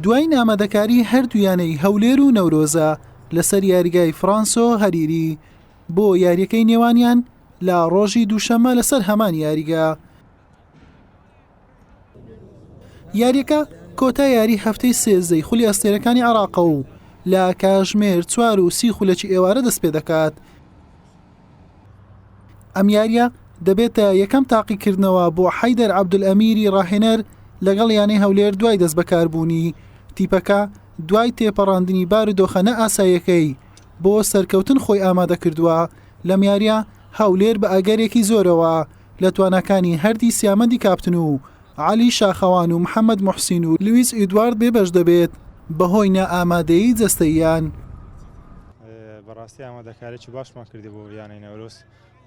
دوایین ئامادەکاری هەردوو یانەی هەولێر و نەورۆزە لەسەر یاریگای فرانسۆ هەریری بۆ یاریەکەی نێوانیان لە ڕۆژی دووشەممە لەسەر هەمان یاریگە یاریەکە کۆتا یاری هەفتەی سێزدەی خولی ئەستێرەکانی عراقە و لە کاژمێر چوار و سی خولەکی ئێوارە دەست پێ دەکات ئەم یارییە دەبێتە یەکەم تاقیکردنەوە بۆ حەیدەر عەبدولئەمیری راهێنەر لەگەڵ یانەی هەولێر دوای دەستبەکاربوونی، تیپەکە دوای تێپەڕاندنی بارودۆخە نائاساییەکەی بۆ سەرکەوتن خۆی ئامادەکردووە، لەم یارییە هەولێر بە ئەگەرێکی زۆرەوە لە تواناکانی هەردی سیامەندی کاپتن و عەلی شاخەوان و محەمەد موحسین و لویس ئیدوارد بێبەش دەبێت بەهۆی نائامادەیی جەستەییان. بەڕاستی ئامادەکاریی باشمان کردی بۆ یانەی نەورۆز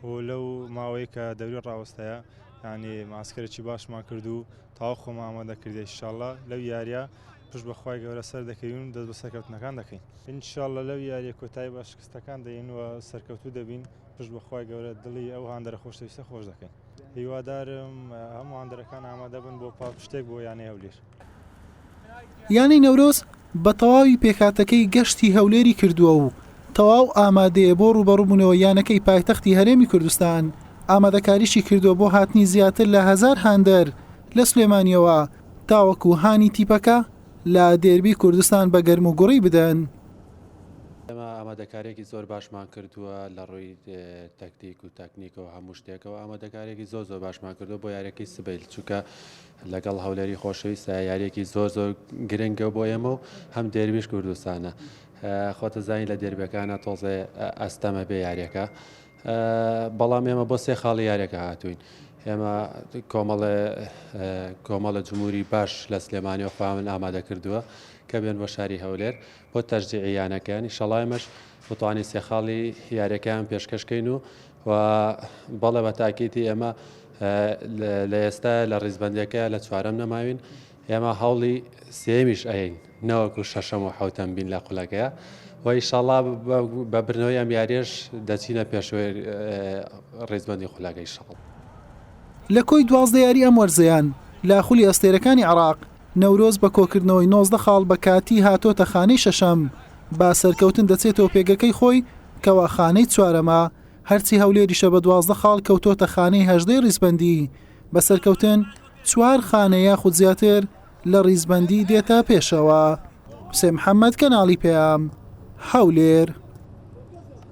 و لەو ماوەی کە دەوری ڕاوەستەیە یانی ماسکەرێکی باشمان کرد و تاو خۆمە ئامادە کردی انشاءاللە لەو یاریە پش بەخوای گەورە سەر دەکەین و دەست بە سەرکەوتنەکان دەکەین انشاءاللە لەو یاریە کۆتایی بە شکستەکان دەین و سەرکەوتوو دەبین پشت بە خوای گەورە دڵی ئەو هاندەرە خۆشەویستە خۆش دەکەین هیوادارم هەموو هاندەرەکان ئامادە بن بۆ پاڵ شتێک بۆ یانەی هەولێر. یانەی نەورۆز بە تەواوی پێکهاتەکەی گەشتی هەولێری کردووە و تەواو ئامادەیە بۆ رووبەڕووبوونەوەی یانەکەی پایتەختی هەرێمی کوردستان، ئامادەکاریشی کردووە بۆ هاتنی زیاتر لە هەزار هاندەر لە سلێمانییەوە تاوەکو هانی تیپەکە لە دێربی کوردستان بە گەرموگوڕی بدەن. ئێمە ئامادەکاریەکی زۆر باشمان کردووە لە ڕووی تەکتیک و تەکنیکەوە هەموو شتێکەوە ئامادەکارێکی زۆر زۆر باشمان کردو بۆ یارەکەی سبیل چووکە لەگەڵ هەولێری خۆشەویستە یاریەکی زۆر زۆر گرنگە بۆ ئێمە و هەم دەرویش کوردستانە خۆتە زانین لە دەربەکانە تۆزێ ئەستەمە بێ یاریەکە بەڵام ئێمە بۆ سێ خاڵی یاریەکە هاتوین ئێمە کۆمەڵێ کۆمەڵە جمهوری باش لە سلێمانی و خواون ئامادە کردووە کە بێن بۆ شاری هەولێر و بۆ تەشجیعی یانەکەیان، ئیشەڵا ئێمەش بتوانین سێ خاڵی یاریەکەیان پێشکەش کەین و و بەڵێ بە تاکیتی ئێمە لە ئێستا لە ڕیزبندەکە لە چوارەم نەماوین ئێمە هەوڵی سێمیش ئەین نەوەکو شەشەم و حوتەم بین لە قولەکەیە وای شڵا بە برنەوەی ئەم یاریش دەچینە پێشوێ ڕێزبندی خولەکەی شڵ لە کۆی دوازدە یاری ئەم وەرزەیان لە خولی ئەستێرەکانی عراق نەورۆز بە کۆکردنەوەی نۆزدە خاڵ بە کاتی هاتۆتە خانەی شەشەم، با سەرکەوتن دەچێتەوە پێگەکەی خۆی کەوا خانەی چوارەمە، هەرچی هەولێریشە بە دوازدە خاڵ کەوتۆتە خانەی هەژدەی ڕیزبەندی، بە سەرکەوتن چوار خانە یاخود زیاتر لە ڕیزبەندی دێتە پێشەوە. حوسێن محەمەد، کەناڵی پەیام، هەولێر.